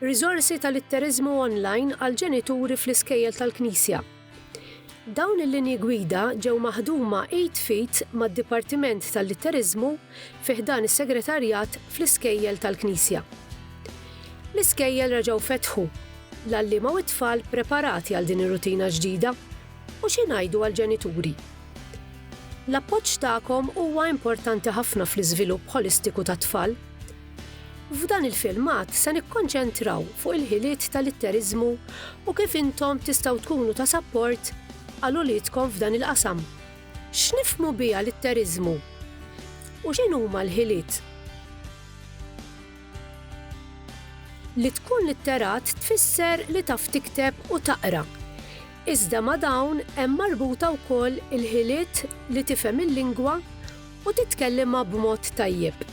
Riżorsi ta' litteriżmu online għall-ġenituri fl-iskejjel tal-Knisja. Dawn il-linji gwida ġew maħduma id f'id mad-Dipartiment tal-Litteriżmu fi ħdan is-Segretarjat fl-iskejjel tal-Knisja. L-iskejjel reġgħu fetħu, l-għalliema u t-tfal preparati għal din ir-rutina ġdida, u xi ngħidu għall-ġenituri? L-appoġġ tagħkom huwa importanti ħafna fl-iżvilupp ħolistiku tat-tfal, F'dan il-filmat se nikkonċentraw fuq il-ħiliet tal-itteriżmu u kif intom tistgħu tkunu ta' sapport għal uliedkom f'dan il-qasam. X'nifhmu biha l-itteriżmu? U x'inhuma l-ħiliet? Li tkun litterat tfisser li taf tikteb u taqra. Iżda ma' dawn hemm marbuta wkoll il-ħiliet li tifhem il-lingwa u titkellimha b'mod tajjeb.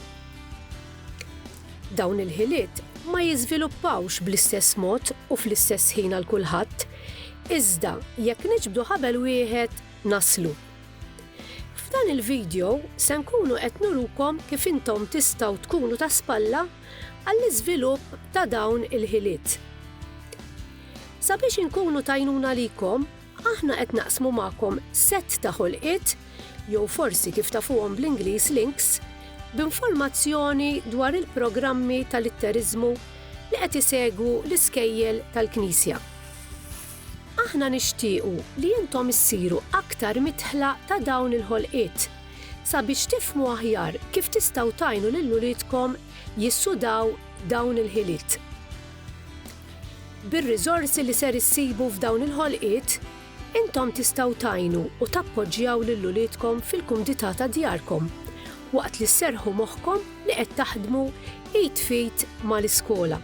Dawn il-ħiliet ma jiżviluppawx bl-istess mod u fl-istess ħin għal kulħadd, iżda jekk niġbdu ħabel wieħed naslu. F'dan il-vidjow se nkunu qed nurukom kif intom tistgħu tkunu ta' spalla għall-iżvilupp ta' dawn il-ħiliet. Sabiex inkunu t'għajnuna likom, aħna qed naqsmu magħkom sett ta' ħolqiet, jew forsi kif tafuhom bl-Ingliż links, b'informazzjoni dwar il-programmi ta' litteriżmu li qed isegwu l-iskejjel tal-Knisja. Aħna nixtiequ li intom issiru aktar midħla ta' dawn il-ħolqiet, sabiex tifhmu aħjar kif tistgħu tgħinu lil uliedkom jissudaw dawn il-ħiliet. Bir-riżorsi li ser issibu f'dawn il-ħolqiet, intom tistgħu tgħinu u tappoġġjaw lil uliedkom fil-kumdità ta' djarkom waqt li sserrħu moħħkom li qed taħdmu id f'id mal-iskola.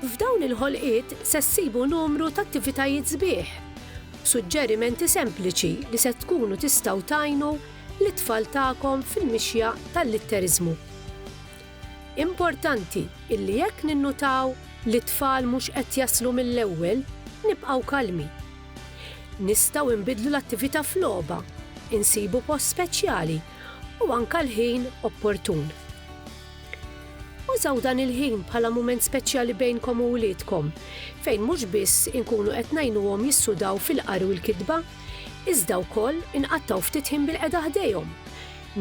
F'dawn il-ħolqiet se ssibu numru t'attivitajiet sbieħ b'suġġerimenti sempliċi li se tkunu tistgħu tgħinu lit-tfal tagħkom fil-mixja tal-litteriżmu. Importanti illi jekk ninnutaw li t-tfal mhux qed jaslu mill-ewwel, nibqgħu kalmi. Nistgħu inbiddlu l-attività f'logħba, insibu post speċjali u anke l-ħin opportun. Użaw dan il-ħin bħala mument speċjali bejnkom u wliedkom, fejn mhux biss inkunu qed ngħinuhom jissudaw fil-qari u l-kitba, iżda wkoll inqattgħu ftit ħin bilqiegħda ħdejhom,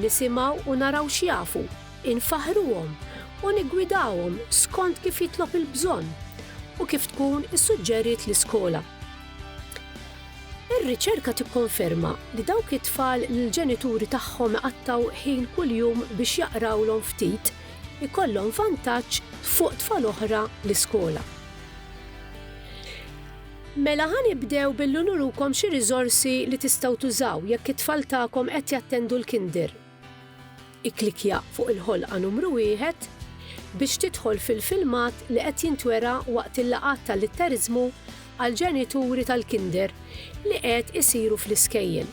nisimgħu u naraw x'jafu. infaħħruhom u niggwidawhom skont kif jitlob il-bżonn u kif tkun issuġġeriet l-iskola. Ir-riċerka tikkonferma li dawk it-tfal li l-ġenituri tagħhom iqattgħu ħin kuljum biex jaqrawlhom ftit ikollhom vantaġġ fuq tfal oħra l-iskola. Mela ħa nibdew billi nurukom xi riżorsi li tistgħu tużaw jekk it-tfal tagħkom qed jattendu l-kinder Ikklikkja fuq il-ħolqa numru wieħed biex tidħol fil-filmat li qed jintwera waqt il-laqgħat ta' Litteriżmu għall-ġenituri tal-Kinder li qed isiru fl-iskejjel.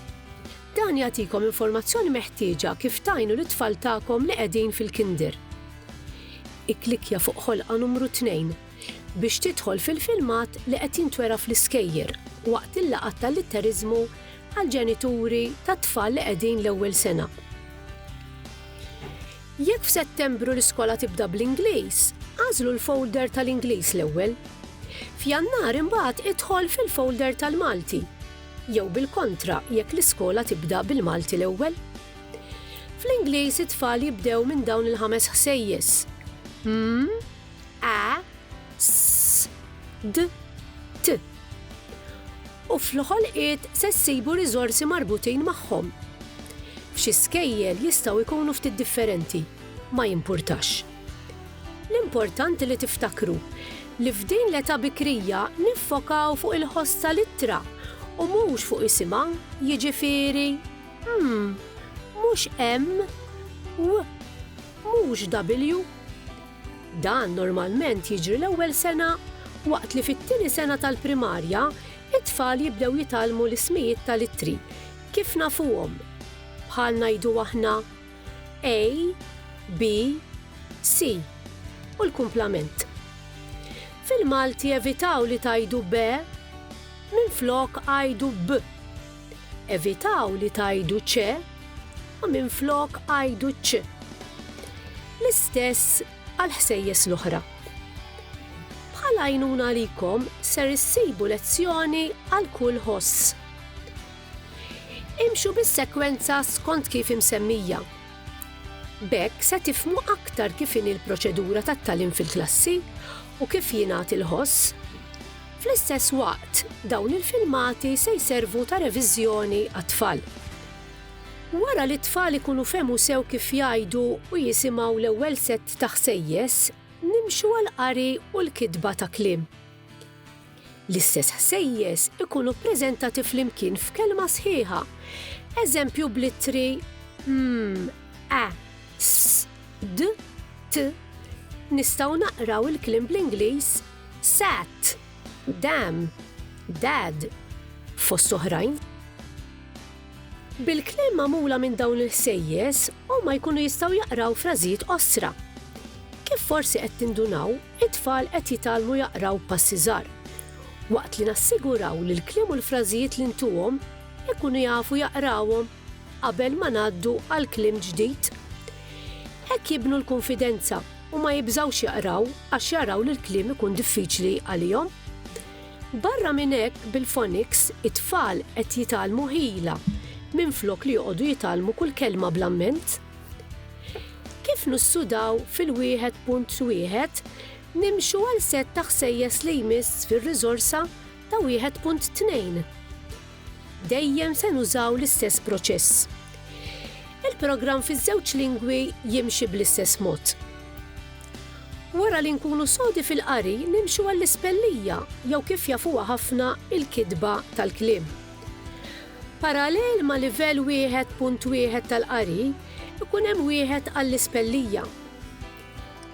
Dan jagħtikom informazzjoni meħtieġa kif tgħinu lit-tfal tagħkom li qegħdin fil-Kinder. Ikklikkja fuq ħolqa numru tnejn biex tidħol fil-filmat li qed jintwera fl-iskejjer waqt il-laqgħat ta' Litteriżmu għall-ġenituri tat-tfal li qegħdin l-ewwel sena. Jekk f'Settembru l-iskola tibda bl-Ingliż, agħżlu l-folder tal-Ingliż l-ewwel. F'Jannar imbagħad idħol fil-folder tal-Malti, jew bil-kontra jekk l-iskola tibda bil-Malti l-ewwel. Fl-Ingliż it-tfal jibdew minn dawn il-ħames ħsejjes, mm, a, s, d, t. U fl-ħolqiet se ssibu riżorsi marbutin magħhom. F'xi skejjel jistgħu jkunu ftit differenti, ma jimpurtax. L-importanti li tiftakru li f'din l-età bikrija niffokaw fuq il-ħoss tal-ittra u mhux fuq isimha, jiġifieri, m, mhux emm, w, mhux dabbilju. Dan normalment jiġri l-ewwel sena waqt li fit-tieni sena tal-primarja t-tfal jibdew jitgħallmu l-ismijiet tal-ittri kif nafuhom, bħal ngħidu aħna A, B, C, u l-kumplament. Fil-Malti evitaw li tgħidu be, minflok għidu b. Evitaw li tgħidu ċe u minflok għidu ċ. L-istess għall-ħsejjes l-oħra. Bħal għajnuna għalikom ser issibu lezzjoni għal kull ħoss. Imxu bis-sekwenza skont kif imsemmija. Bekk se tifmu aktar kif in il-proċedura tat-talim fil-klassi u kif jingħad il-ħoss Fl-istess waqt, dawn il-filmati se jservu ta' reviżjoni għat-tfal. Wara li t-tfal ikunu fehmu sew kif jgħidu u jisimgħu l-ewwel sett ta' ħsejjes, nimxu għall-qari u l-kitba ta' kliem. L-istess ħsejjes ikunu ppreżentati flimkien f'kelma sħiħa, eżempju bl-ittri m, a, s, d, t. Nistgħu naqraw il-kliem bl-Ingliż sat, dam, dad, fost oħrajn. Bil-kliem magħmula minn dawn il-ħsejjes, huma jkunu jistgħu jaqraw frażijiet qosra. Kif forsi qed tindunaw, it-tfal qed jitgħallmu jaqraw passi żgħar. Waqt li nassiguraw li l-kliem u l-frażijiet li ntuhom ikunu jafu jaqrawhom Qabel ma ngħaddu għal kliem ġdid, hekk jibnu l-kunfidenza u ma jibżgħux jaqraw għax jaraw li l-kliem ikun diffiċli għalihom. Barra minn hekk bil-phonics it-tfal qed jitgħallmu ħila minflok li joqogħdu jitgħallmu kull kelma bl-amment. Kif nissudaw fil-1.1 nimxu għal sett ta' ħsejjes li jmiss fir-riżorsa Ta' 1.2 Dejjem se nużaw l-istess proċess. Il-programm fiż-żewġ lingwi jimxi bl-istess mod. Wara li nkunu sodi fil-qari nimxu għall-ispellija jew kif jafuha ħafna il-kitba tal-kliem. Parallel ma' livell 1.1 tal-qari, ikun hemm wieħed għall-ispellija.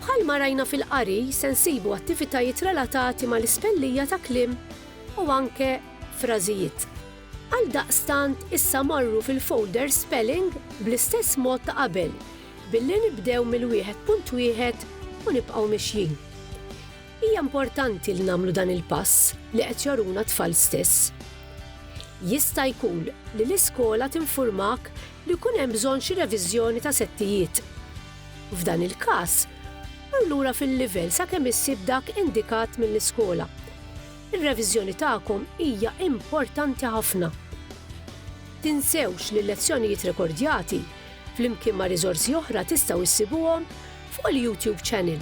Bħalma rajna fil-qari se nsibu attivitajiet relatati mal-ispellija ta' kliem u anke frażijiet. Għaldaqstant issa morru fil-folder Spelling bl-istess mod ta' qabel billi nibdew mill-wieħed punt wieħed u nibqgħu mixjin. Hija importanti li nagħmlu dan il-pass li qed joruna t-tfal stess. Jista' jkun li l-iskola tinfurmak li jkun hemm bżonn xi reviżjoni ta' settijiet. F'dan il-każ, mar lura fil-livell sakemm issib dak indikat mill-iskola. Ir-reviżjoni tagħkom hija importanti ħafna. Tinsewx li l-lezzjonijiet rekordjati, flimkien ma' riżorsi oħra tistgħu issibuhom fuq il-YouTube Channel.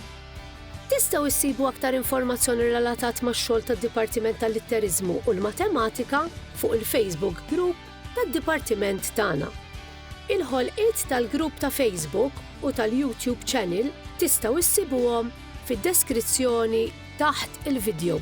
Tistgħu issibu aktar informazzjoni relatat max-xogħol tad-Dipartiment tal-Litteriżmu u l-Matematika fuq il-Facebook Group tad-dipartiment tagħna. Il-ħolqiet tal-grupp ta' Facebook u tal-YouTube channel tistgħu issibuhom fid-deskrizzjoni taħt il-vidjow.